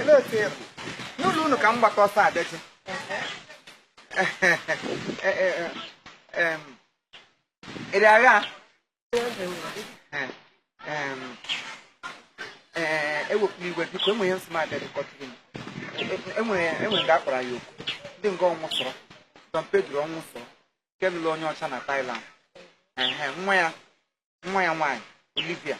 Olee otu ị bụ? N'ụlọ unu ka m gbata ọsọ abịaji. Ị rị agha? Ewepụla igwe biko enwe ihe nsị m abịa dịkọtụrụ m. Enwere nga akpara ya okwu. Ndị nga Ọnwụsọrọ. Don Pedro Ọnwụsọrọ. Nke lụrụ onye ọcha na Thailand. Ehe, nwa ya nwa ya nwaanyị Olivia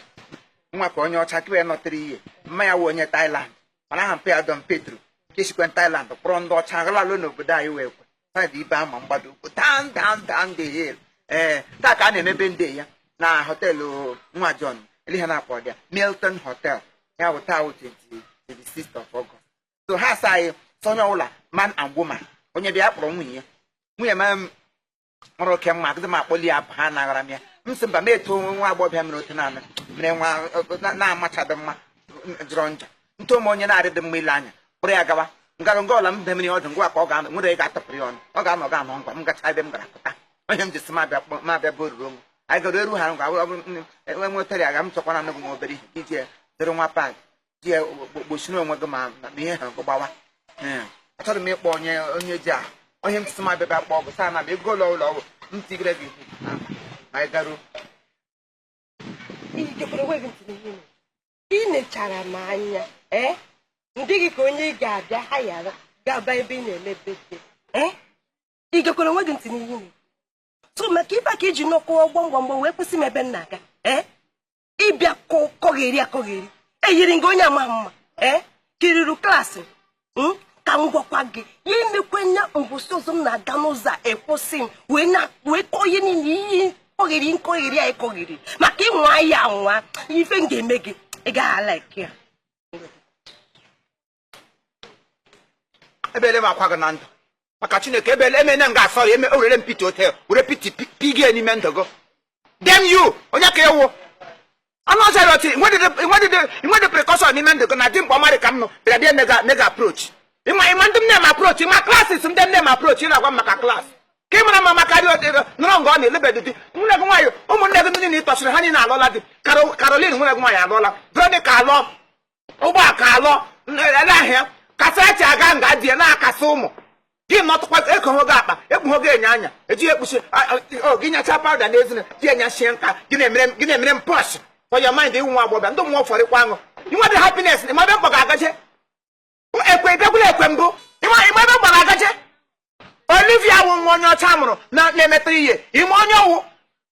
nwa ka onye ọcha kebe ya nọtịrị ihe mma ya wụ onye Thailand mana aha mpa ya Don Pedro nke sikwe Thailand kpọrọ ndị ọcha lala n'obodo anyị wee kwe saịdị ibe ama mgbado ukwu down down down the hill ee taa ka a na-eme birthday ya na họteelụ nwa John ele ihe a na-akpọ ya Milton Hotel ya bụ taa wụ 26th of August so ha sị anyị sọ onye ọbụla man and woman onye bịa ya kpọrọ nwunye ya nwunye ma m mụrụ oke mma agadị m akpọli ya ha anaghara m ya m sị mba m eto onwe nwa agbọghọbịa mere otu naanị mere nwa na-amachadị mma jọrọ njọ nto m onye na-adịdị mma ile anya kpụrụ ya gawa ngara nga ọla m be mmiri ọdụ ngwa ka ọ ga-anọ nwere ga-atụpụrụ ya ọnụ ọ ga-anọ ga anọ ngwa m gacha ebe m gara pụta onye m ji si mabịa mabịa bụ oruru onwe anyị gara eru ha ngwa enwe nwetara ya ga m chọkwana anụgụ m obere ihe iji dịrị nwa pad ji ya gbochiri onwe gị ma ihe ahụ gbawa hmm. achọrọ m ịkpọ onye onye ji a onye m tụtụ ma bịa kpọọ bụ taa na bụ ego ụlọ ụlọ ọgwụ m tigere gị ma ị garuo ị nechara m anya ee eh? m dị gị ka onye ị ga-abịa hayara gaba ebe a na-eme birthday ee eh? ị gekwara onwe gị ntị n'ihe so maka ibe ka iji nọ kụọ gbamgbamgbam wee kwụsị m ebe m na-aga ee eh? ị bịa kọgheri akọgheri eyiri m gị onye ama mma ee eh? kiriru klaasị hmm? ka m gwakwa gị ya emekwe nya mbọsị ọzọ m na-aga n'ụzọ ị kwụsị m wee kọọ ihe niile iyi kọgheri nkọgheri a ị kọgheri maka ị nwaa ya anwa ife m ga-eme gị ị gaghị alaịkị ya ebele m akwa gị na ndụ maka chineke ebele emene m ga-asọ ya eme orere m pete ote were pete pigie n'ime ndụ gị damn you onye ka ewu ọnụ ọzọ ya ọtị i nwedị prekọshọn n'ime ndụ gị na di mkpa ọmarị ka m nọ bịara bịa mega mega aprochi ị ma ị ma ndị na-eme m aprochi ị ma klasis ndị na-eme m aprochi ị na-agwa m maka klas ka ị mara mma maka dị ọdịrị nọrọ nga ọ na-elebedị di nwanne gị nwaanyị ụmụnne gị ndị niile ị tọsịrị ha niile alụọla di Karo- Karolin nwanne gị nwaanyị alụọla Veronica alụọ Ụgbọaka alụọ ahịa Kasarachi aga nga di ya na-akasị ụmụ gị nọtụkwa ekoghị gị akpa ekpughị gị enyo anya ejighị ekpuchi gị nyacha pawụda n'ezina gị enyachie nka gị na-emere m pọsh for your mind ị wụ nwa agbọbịa ndị mmụọ fọrịkwa aṅụ i nwedị happiness ị ma ebe m kpọ gị agaje ekwe bịakwula ekwe mbụ ị ma ebe m kpọ gị agaje Olivia wụ nwa onye ọcha mụrụ na-emetara ihe ime onye ọwụ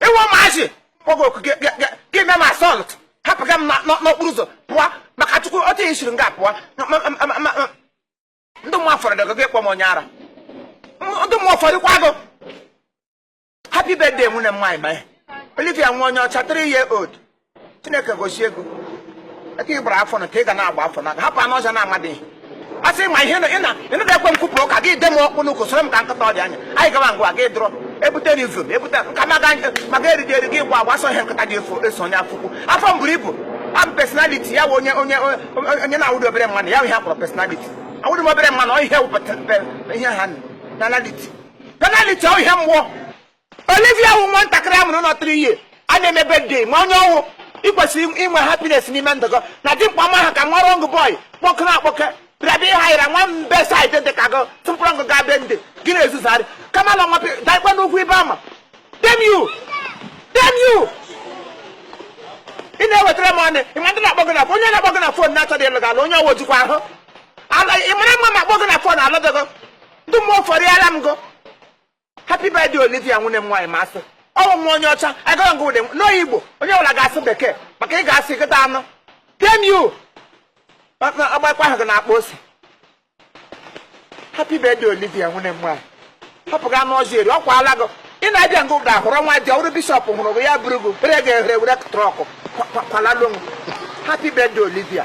ịnwa maazị kpọgo oku gị- gị- gị- gị mee m assault hapụga m na- na- n'okporo ụzọ pụọ maka chukwu otu ihe siri nga pụọ Ma- ma- ma- ma- ma- ndị mmụọ fọrọ dịgo gị kpọ m onye ara M- ndị mmụọ ụfọdụkwa gụ happy birthday nwunye m nwaanyị ọma olivia nwa onye ọcha 3 year old chineke gọzie gị aka ị gbara afọ na ka ị ga na-agba afọ na hapụ anụ ọzọ na-amadịghị a sị ma ihe ịnụda ekwe m kwupụrụ ụka gị de m ọkpụ n'ụkwụ soro m ka nkịta ọ dị anya anyị gawa ngwa gị dụrọ ebute na izu ebute nka maga maga eriji eri gị gwa gbasọ ihe nkịta ji eso onye afọ ukwu afọ m buru ibu abụ personality ya wụ onye onye onye- onye na-awụdị obere mmanụ ya wụ ihe a kpọrọ personality awụdị m obere mmanụ ọ ihe wụ pe- pe- ihe ha nụ, personality penaliti ọ ihe mmụọ Olivia wụ nwatakịrị a mụrụ nọ 3 years a na-eme birthday ma onye ọ wụ ị kwesịrị inwe happiness n'ime ndụ gị na dị mkpa ma ha ka nwa rọng bọị kpọkụrụ akpọke bịabịa ịha yara nwa mbe saịdị dị ka gị tụpụrụ ngụ ga be ndị gị na-ezuzarị kama na nwapị daikwa n'ugwu ibe ama dem you dem you ị na-ewetara m ọnụ ị ma ndị na-akpọ gị na onye na-akpọ gị na fon na-achọghị ịlụ gị ala onye ọ wụ jikwa ahụ ala ị mara mma ma akpọ gị na fon alụdịgo ndị mmụọ ụfọdụ yara m gụ happy birthday olivia nwunye m nwaanyị ma a sị ọ wụ nwa onye ọcha agara ngụ ụdị n'oyigbo onye ọbụla ga-asụ bekee maka ị ga-asụ nkịta anụ dem you ọgbakwa ahụ gị na-akpa ose happy birthday olivia nwunye m nwaanyị hapụga anụ ọzọ eri ọkwa ala gị ị na-abịa ngụ ụda hụrụ nwa dị ọrụ bishọp hụrụ gị ya bụrụ gị were ga-ehere were trọkụ kwalalu happy birthday olivia